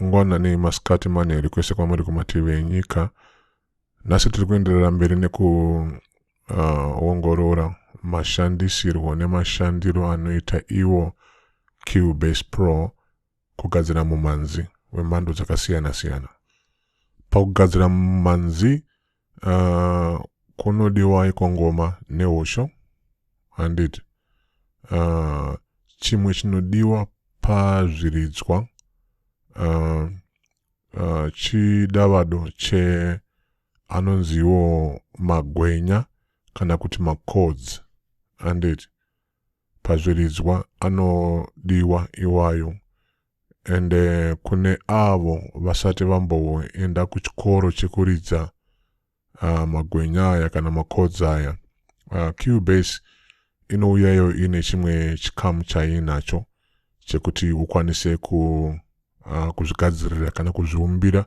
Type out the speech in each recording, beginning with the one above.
mangwana nemasikati manheru kwese kwamuri kumativi enyika nhasi tiri kuenderera mberi nekuongorora uh, mashandisirwo nemashandiro anoita iwo cubase pro kugadzira mumanzi wemhando dzakasiyana-siyana pakugadzira mumanzi uh, kunodiwai kwangoma nehosho handiti uh, chimwe chinodiwa pazviridzwa uh, uh, chidavado che anonziwo magwenya kana kuti macords handiti pazviridzwa anodiwa iwayo and kune avo vasati vamboenda kuchikoro chekuridza uh, magwenya aya kana makodza aya uh, cubase inouyayo ine chimwe chikamu chainacho chekuti ukwanise ku uh, kuzvigadzirira kana kuzviumbira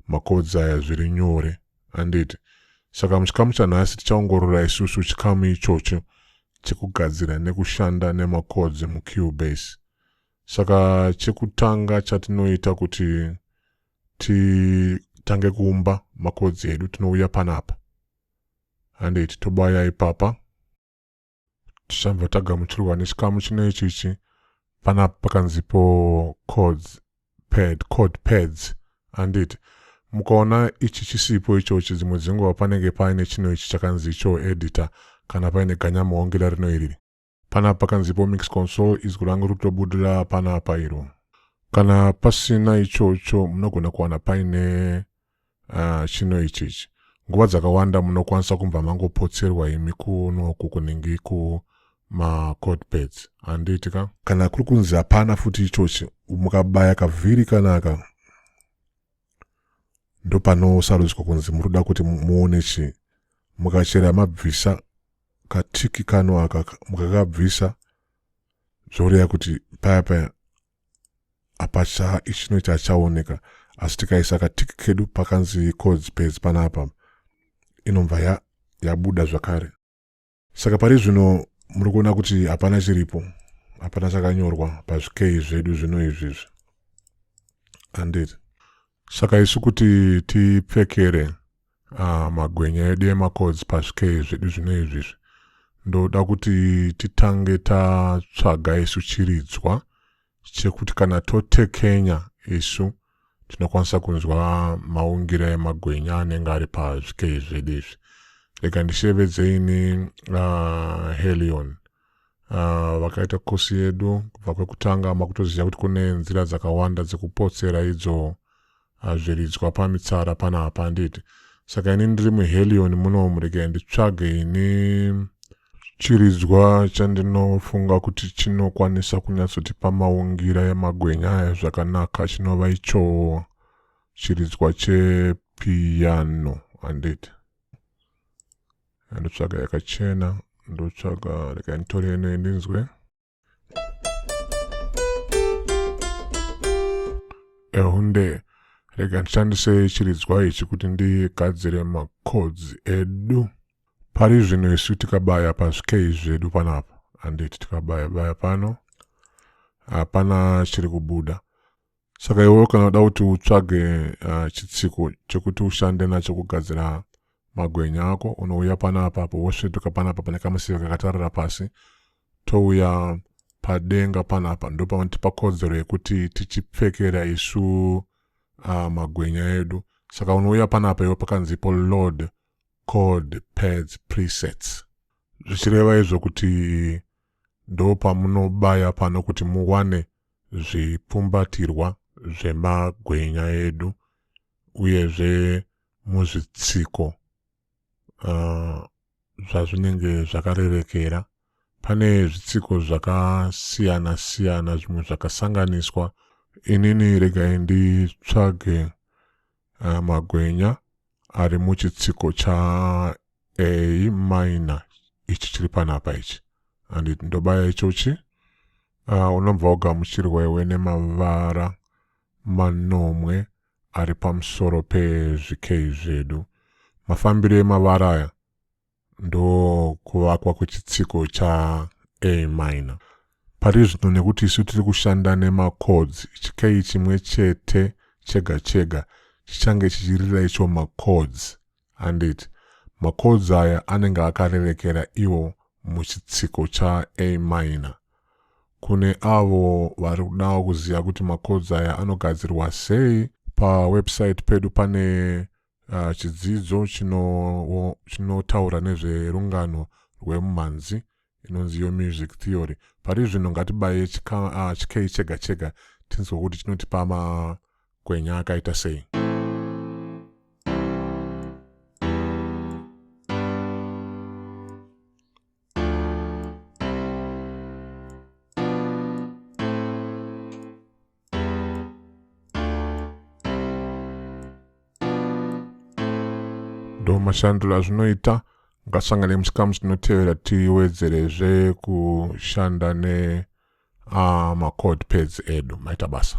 macodes aya zviri nyore handiti saka muchikamu chanhasi tichaongorora isusu chikamu ichocho chekugadzira nekushanda nemacodes mucubase saka chekutanga chatinoita kuti titange kuumba macodes edu tinouya panapa handiti tobaya ipapa tichambva tagamuchirwa nechikamu chino ichichi pana pakanzipo codes pad code pads handiti mukaona ichi chisipo ichochi dzimwe dzenguva panenge paine chino ichi chakanzi icho editor kana paine ganyamuhongera rino iriri pana pakanzipo mix console izwi rangu rutobudira panapa iro kana pasina ichocho munogona kuwana paine Ah, chino ichi ichi nguva dzakawanda munokwanisa kumbva mangopotserwa imi kuno uku kunenge kumacod pads handiti ka kana kuri kunzi hapana futi ichochi mukabaya kavhiri kanaka ndopanosarudzwa kunzi muri kuda kuti muone chii mukachera mabvisa katiki kano aka mukakabvisa zvoreva kuti paya paya hapachaa ichino chachaoneka asi tikaisa katiki kedu pakanzi codes page panapa inobva ya, yabuda zvakare saka pari zvino muri kuona kuti hapana chiripo hapana chakanyorwa pazvikei zvedu zvino izvizvi anditi Saka isu kuti tipfekere uh, magwenya edu emacods pazvikei zvedu zvino izvi izvi ndoda kuti titange tatsvaga isu chiridzwa chekuti kana totekenya isu tinokwanisa kunzwa maungira emagwenya anenge ari pazvikei zvedu izvi rega ndishevedze ini uh, helion uh, vakaita kosi yedu kubva kwekutanga makutoziva kuti kune nzira dzakawanda dzekupotsera idzo ah, zviridzwa uh, pamitsara panapa handiti saka ini ndiri muhelion muno muregai nditsvage ini chiridzwa chandinofunga kuti chinokwanisa kunyatsotipa maungira emagwenya aya zvakanaka chinova ichoo chiridzwa chepiyano handiti ndotsvaga yakachena ndotsvaga rekai nditore ino ndinzwe ehunde rega ndishandise chiridzwa ichi kuti ndigadzire macods edu pari zvino isu tikabaya pazvikei zvedu panapa handiti tikabaya baya pano hapana chiri kubuda saka iwewo kana uda kuti utsvage uh, chitsiko chekuti ushande nacho kugadzira magwenya ako unouya pana apapo wosvetuka pana apa pane kamusiva kakatarira pasi touya padenga pana apa ndo pavanotipa kodzero yekuti tichipfekera isu uh, magwenya edu saka unouya pana apa iwe pakanzipo load code pads presets zvichireva izvo kuti ndo pamunobaya pano kuti muwane zvipfumbatirwa zvemagwenya edu uyezve muzvitsiko uh, zvazvinenge zvakarerekera pane zvitsiko zvakasiyana siyana zvimwe zvakasanganiswa inini regai nditsvage uh, magwenya ari muchitsiko cha a minor ichi chiri panapa ichi and ndobaya ichochi uh, unobva ugamuchirwa iwe nemavara manomwe ari pamusoro pezvikei zvedu mafambiro emavara aya ndokuvakwa kwechitsiko cha A minor. Pari zvino nekuti isu tiri kushanda nemachords, chikeyi chimwe chete chega chega chichange chichirira icho machords handiti. Machords aya anenge akarerekera iwo muchitsiko cha A minor. Kune avo vari kudawo kuziva kuti machords aya anogadzirwa sei, pawebsite pedu pane Uh, chidzidzo chinotaura chino nezverungano rwemumhanzi inonzi yo music theory pari zvino ngatibaye ah, chikei uh, chega chega tinzwe kuti chinotipa makwenya akaita sei ndo mashandiro azvinoita ngasangane musikamu tinotevera tiwedzerezve kushanda ne uh, ah, macode pads edu maita basa